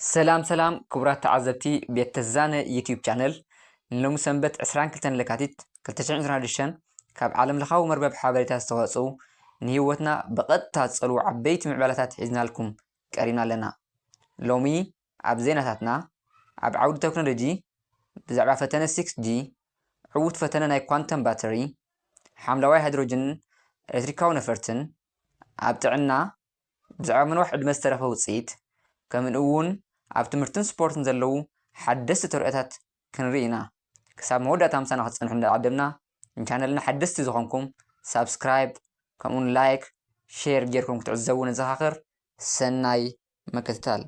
ሰላም ሰላም ክቡራት ተዓዘብቲ ቤት ተዛነ ዩቲዩብ ቻነል ንሎሚ ሰንበት ዕስራን ክልተን ለካቲት ክልተ ሽሕን ዕስራን ሽዱሽተን ካብ ዓለም ለኻዊ መርበብ ሓበሬታ ዝተዋፅኡ ንህይወትና ብቐጥታ ዝፀልዉ ዓበይቲ ምዕባለታት ሒዝናልኩም ቀሪብና ኣለና ሎሚ ኣብ ዜናታትና ኣብ ዓውዲ ቴክኖሎጂ ብዛዕባ ፈተነ 6G ዕዉት ፈተነ ናይ ኳንተም ባተሪ ሓምለዋይ ሃይድሮጅንን ኤሌክትሪካዊ ነፈርትን ኣብ ጥዕና ብዛዕባ ምንዋሕ ዕድመ ዝተረኽበ ውጽኢት፣ ከምንእውን ኣብ ትምህርትን ስፖርትን ዘለዉ ሓደስቲ ተርእዮታት ክንርኢ ኢና። ክሳብ መወዳእታ ምሳና ክትጸንሑ እንዳዓደምና፣ ንቻነልና ሓደስቲ ዝኾንኩም ሳብስክራይብ ከምእውን ላይክ ሼር ጌርኩም ክትዕዘቡ ነዘኻኽር። ሰናይ ምክትታል።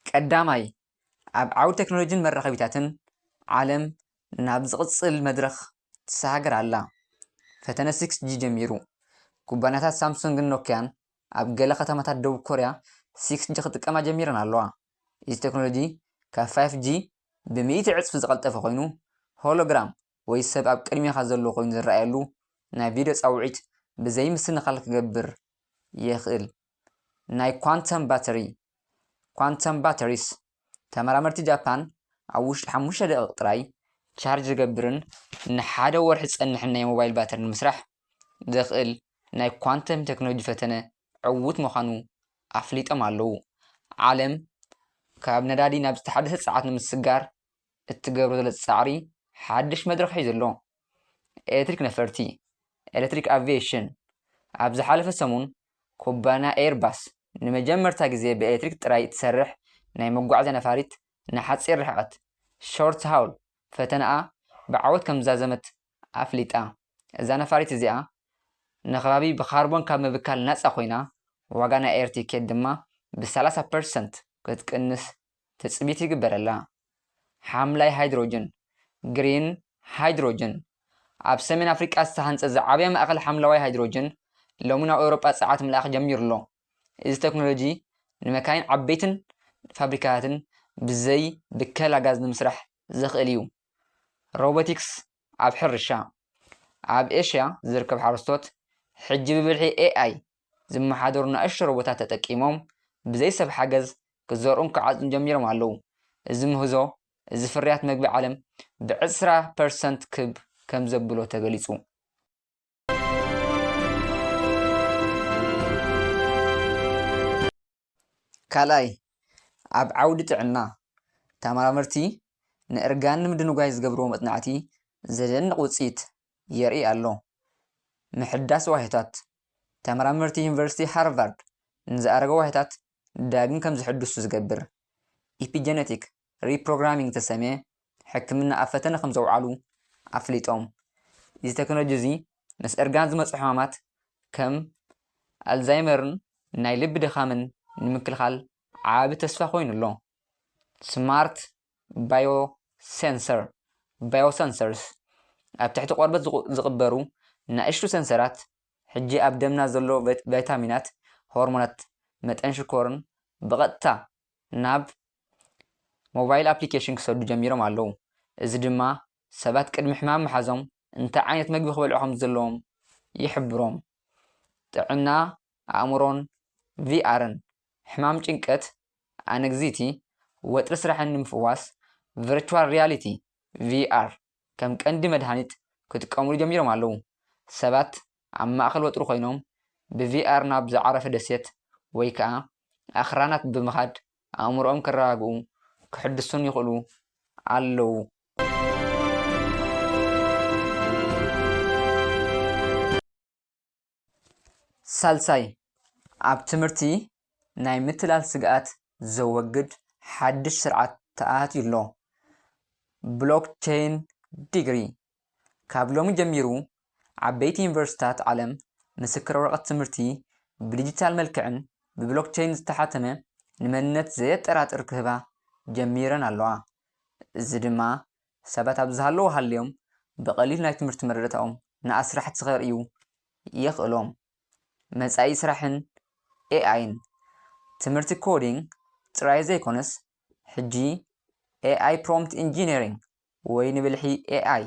ቀዳማይ፣ ኣብ ዓውዲ ተክኖሎጂን መራኸቢታትን፣ ዓለም ናብ ዝቕጽል መድረኽ ትሰጋገር ኣላ። ፈተነ ሲክስ ጂ ጀሚሩ። ኩባንያታት ሳምሱንግን ኖክያን ኣብ ገለ ከተማታት ደቡብ ኮርያ ሲክስ ጂ ክጥቀማ ጀሚረን ኣለዋ። እዚ ተክኖሎጂ ካብ ፋይፍ ጂ ብሚእቲ ዕጽፊ ዝቐልጠፈ ኮይኑ፣ ሆሎግራም ወይ ሰብ ኣብ ቅድሜኻ ዘሎ ኮይኑ ዝረኣየሉ ናይ ቪድዮ ጻውዒት ብዘይምስንኻል ክገብር የኽእል። ናይ ኳንተም ባተሪ፣ Quantum Batteries፣ ተመራመርቲ ጃፓን ኣብ ውሽጢ ሓሙሽተ ደቒቕ ጥራይ ቻርጅ ዝገብርን ንሓደ ወርሒ ዝጸንሕን ናይ ሞባይል ባተሪ ንምስራሕ ዘኽእል ናይ ኳንተም ቴክኖሎጂ ፈተነ ዕዉት ምዃኑ ኣፍሊጦም ኣለዉ። ዓለም ካብ ነዳዲ ናብ ዝተሓደሰ ጸዓት ንምስግጋር እትገብሮ ዘለ ጻዕሪ ሓድሽ መድረኽ ሒዙ ኣሎ። ኤሌክትሪክ ነፈርቲ፣ ኤሌክትሪክ ኣቪዬሽን፣ ኣብ ዝሓለፈ ሰሙን ኩባንያ ኤየርባስ ንመጀመርታ ግዜ ብኤሌክትሪክ ጥራይ እትሰርሕ ናይ መጓዓዝያ ነፋሪት ንሓጺር ርሕቐት፣ ሾርት ሃውል፣ ፈተነኣ ብዓወት ከምዝዛዘመት ኣፍሊጣ። እዛ ነፋሪት እዚኣ ንከባቢ ብካርቦን ካብ ምብካል ናጻ ኮይና፣ ዋጋ ናይ ኣየር ቲኬት ድማ ብ ሰላሳ ፐርሰንት ክትቅንስ ትጽቢት ይግበረላ። ሓምላይ ሃይድሮጅን፣ Green Hydrogen፣ ኣብ ሰሜን ኣፍሪቃ ዝተሃንጸ ዝዓበየ ማእከል ሓምለዋይ ሃይድሮጅን፣ ሎሚ ናብ ኤውሮጳ ጸዓት ምልኣኽ ጀሚሩ'ሎ። እዚ ተክኖሎጂ ንመካይን ዓበይትን ፋብሪካታትን ብዘይ ብከላ ጋዝ ንምስራሕ ዘኽእል'ዩ። ሮቦቲክስ ኣብ ሕርሻ፣ ኣብ ኤሽያ ዝርከብ ሓረስቶት ሕጂ ብብልሒ ኤኣይ ዝመሓደሩ ናእሽቱ ሮቦታት ተጠቂሞም ብዘይ ሰብ ሓገዝ ክዘርኡን ክዓጽዱን ጀሚሮም ኣለዉ። እዚ ምህዞ እዚ ፍርያት መግቢ ዓለም ብዕስራ ፐርሰንት ክብ ከምዘብሎ ተገሊጹ። ካልኣይ፣ ኣብ ዓውዲ ጥዕና፣ ተመራመርቲ ንእርጋን ንምድንጓይ ዝገብርዎ መጽናዕቲ ዘደንቕ ውጽኢት የርኢ ኣሎ። ምሕዳስ ዋህዮታት፣ ተመራመርቲ ዩኒቨርሲቲ ሃርቫርድ ንዝኣረገ ዋህዮታት ዳግም ከም ዝሕድሱ ዝገብር፣ ኢፒጀነቲክ ሪፕሮግራሚንግ ዝተሰምየ ሕክምና ኣብ ፈተነ ከምዘውዓሉ ኣፍሊጦም። እዚ ተክኖሎጂ እዚ ምስ እርጋን ዝመፁ ሕማማት ከም ኣልዛይመርን ናይ ልቢ ድኻምን ንምክልኻል ዓቢ ተስፋ ኮይኑ ኣሎ። ስማርት ባዮ ሴንሰር፣ Biosensors፣ ኣብ ትሕቲ ቆርበት ዝቕበሩ ናእሽቱ ሰንሰራት ሕጂ ኣብ ደምና ዘሎ ቫይታሚናት፣ ሆርሞናት፣ መጠን ሽኮርን ብቐጥታ ናብ ሞባይል ኣፕሊኬሽን ክሰዱ ጀሚሮም ኣለዉ። እዚ ድማ ሰባት ቅድሚ ሕማም ምሓዞም እንታይ ዓይነት መግቢ ክበልዑ ከም ዘለዎም ይሕብሮም። ጥዕና ኣእምሮን ቪኣርን፣ ሕማም ጭንቀት፣ ኣነግዝይቲ፣ ወጥሪ ስራሕን ንምፍዋስ ቨርቹዋል ሪያሊቲ፣ ቪኣር፣ ከም ቀንዲ መድሃኒት ክጥቀሙሉ ጀሚሮም ኣለዉ። ሰባት ኣብ ማእከል ወጥሪ ኮይኖም ብቪኣር ናብ ዝዓረፈ ደሴት ወይ ከኣ ኣኽራናት ብምኻድ ኣእምሮኦም ከረጋግኡ ከሕድሱን ይኽእሉ ኣለዉ። ሳልሳይ፣ ኣብ ትምህርቲ ናይ ምትላል ስግኣት ዘወግድ ሓድሽ ስርዓት ተኣትዩ ኣሎ፣ ብሎክቸይን ዲግሪ። ካብ ሎሚ ጀሚሩ ዓበይቲ ዩኒቨርሲቲታት ዓለም ምስክር ወረቐት ትምህርቲ ብዲጂታል መልክዕን ብብሎክቸይን ዝተሓተመ ንመንነት ዘየጠራጥር ክህባ ጀሚረን ኣለዋ። እዚ ድማ ሰባት ኣብ ዝሃለዉ ሃልዮም ብቐሊሉ ናይ ትምህርቲ መረዳእታኦም ንኣስራሕቲ ከርእዩ የኽእሎም። መጻኢ ስራሕን ኤኣይን ትምህርቲ ኮዲንግ ጥራይ ዘይኮነስ ሕጂ ኤኣይ ፕሮምፕት ኢንጂነሪንግ ወይ ንብልሒ ኤኣይ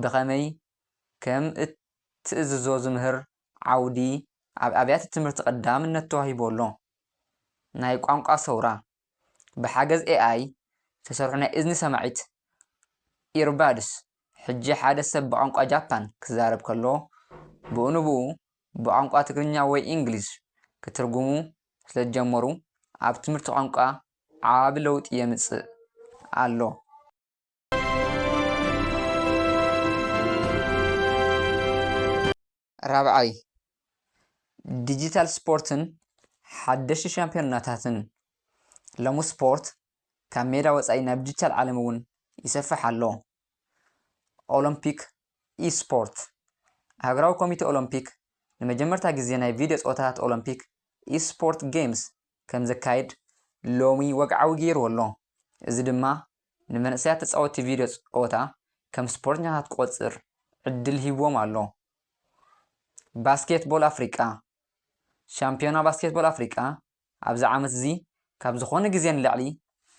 ብኸመይ ከም እትእዝዞ ዝምህር ዓውዲ ኣብ ኣብያተ ትምህርቲ ቀዳምነት ተዋሂቡዎ ኣሎ። ናይ ቋንቋ ሰውራ፣ ብሓገዝ ኤኣይ ዝተሰርሑ ናይ እዝኒ ሰማዒት፣ ኢርባድስ፣ ሕጂ ሓደ ሰብ ብቋንቋ ጃፓን ክዛረብ ከሎ ብኡ ንብኡ ብቋንቋ ትግርኛ ወይ እንግሊዝ ክትርጉሙ ስለዝጀመሩ ኣብ ትምህርቲ ቋንቋ ዓቢ ለውጢ የምጽእ ኣሎ። ራብዓይ፣ ዲጂታል ስፖርትን ሓደሽቲ ሻምፕዮናታትን። ሎሚ ስፖርት ካብ ሜዳ ወጻኢ ናብ ዲጂታል ዓለም እውን ይሰፍሕ ኣሎ። ኦሎምፒክ ኢ-ስፖርት፣ ሃገራዊ ኮሚቴ ኦሎምፒክ ንመጀመርታ ግዜ ናይ ቪድዮ ጸወታታት ኦሎምፒክ ኢ-ስፖርት ጌምስ ከም ዘካይድ ሎሚ ወግዓዊ ገይርዎ ኣሎ። እዚ ድማ ንመንእሰያት ተጻወትቲ ቪድዮ ጸወታ ከም ስፖርተኛታት ክቖጽር ዕድል ሂብዎም ኣሎ። ባስኬትቦል ኣፍሪቃ፣ ሻምፕዮና ባስኬትቦል ኣፍሪቃ ኣብዚ ዓመት'ዚ ካብ ዝኾነ ግዜ ንላዕሊ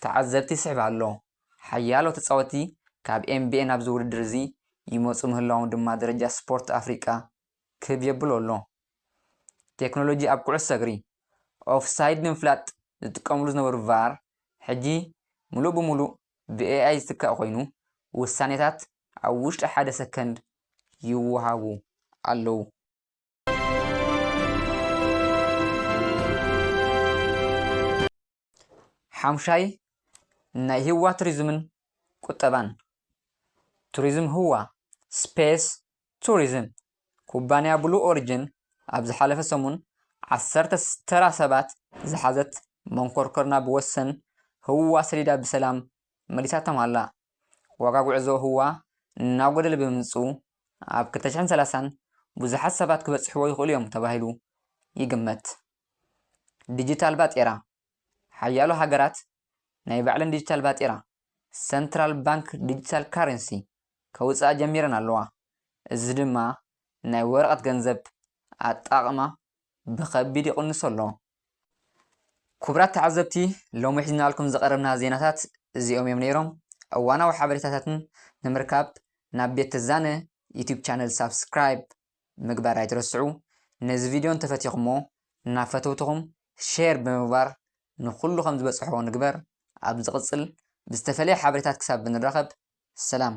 ተዓዘብቲ ይስሕብ ኣሎ። ሓያሎ ተጻወትቲ ካብ ኤንቢኤ ናብዚ ውድድር'ዚ ይመጹ ምህላዎም ድማ ደረጃ ስፖርት ኣፍሪቃ ክብ የብሎ ኣሎ። ቴክኖሎጂ ኣብ ኩዕሶ እግሪ፣ ኦፍሳይድ ንምፍላጥ ዝጥቀምሉ ዝነበሩ ቫር፣ ሕጂ ምሉእ ብምሉእ ብኤኣይ ዝትካእ ኮይኑ፣ ውሳኔታት ኣብ ውሽጢ ሓደ ሰከንድ ይወሃቡ ኣለዉ። ሓሙሻይ ናይ ህዋ ቱሪዝምን ቁጠባን ቱሪዝም ህዋ፣ Space Tourism፣ ኩባንያ ብሉ ኦሪጅን ኣብ ዝሓለፈ ሰሙን ዓሰርተ ተራ ሰባት ዝሓዘት መንኮርኮር ናብ ወሰን ህዋ ሰዲዳ ብሰላም መሊሳቶም ኣላ። ዋጋ ጉዕዞ ህዋ እናጎደለ ብምምፅኡ ኣብ ክልተ ሽሕን ሰላሳን ብዙሓት ሰባት ክበፅሕዎ ይኽእሉ እዮም ተባሂሉ ይግመት። ዲጂታል ባጤራ፣ ሓያሎ ሃገራት ናይ ባዕለን ዲጂታል ባጤራ፣ ሰንትራል ባንክ ዲጂታል ካረንሲ፣ ከውጽኣ ጀሚረን ኣለዋ፣ እዚ ድማ ናይ ወረቐት ገንዘብ ኣጠቓቕማ ብኸቢድ ይቕንሶ ኣሎ። ኩቡራት ተዓዘብቲ ሎሚ ሒዝናልኩም ዝቐረብና ዜናታት እዚኦም እዮም ነይሮም። እዋናዊ ሓበሬታታትን ንምርካብ ናብ ቤት ትዛነ ዩቲዩብ ቻነል ሳብስክራይብ ምግባር ኣይትረስዑ ነዚ ቪድዮ እንተፈቲኹሞ ናብ ፈተውትኹም ሼር ብምግባር ንኹሉ ከም ዝበጽሖ ንግበር ኣብ ዝቕጽል ብዝተፈለየ ሓበሬታት ክሳብ ንራኸብ ሰላም።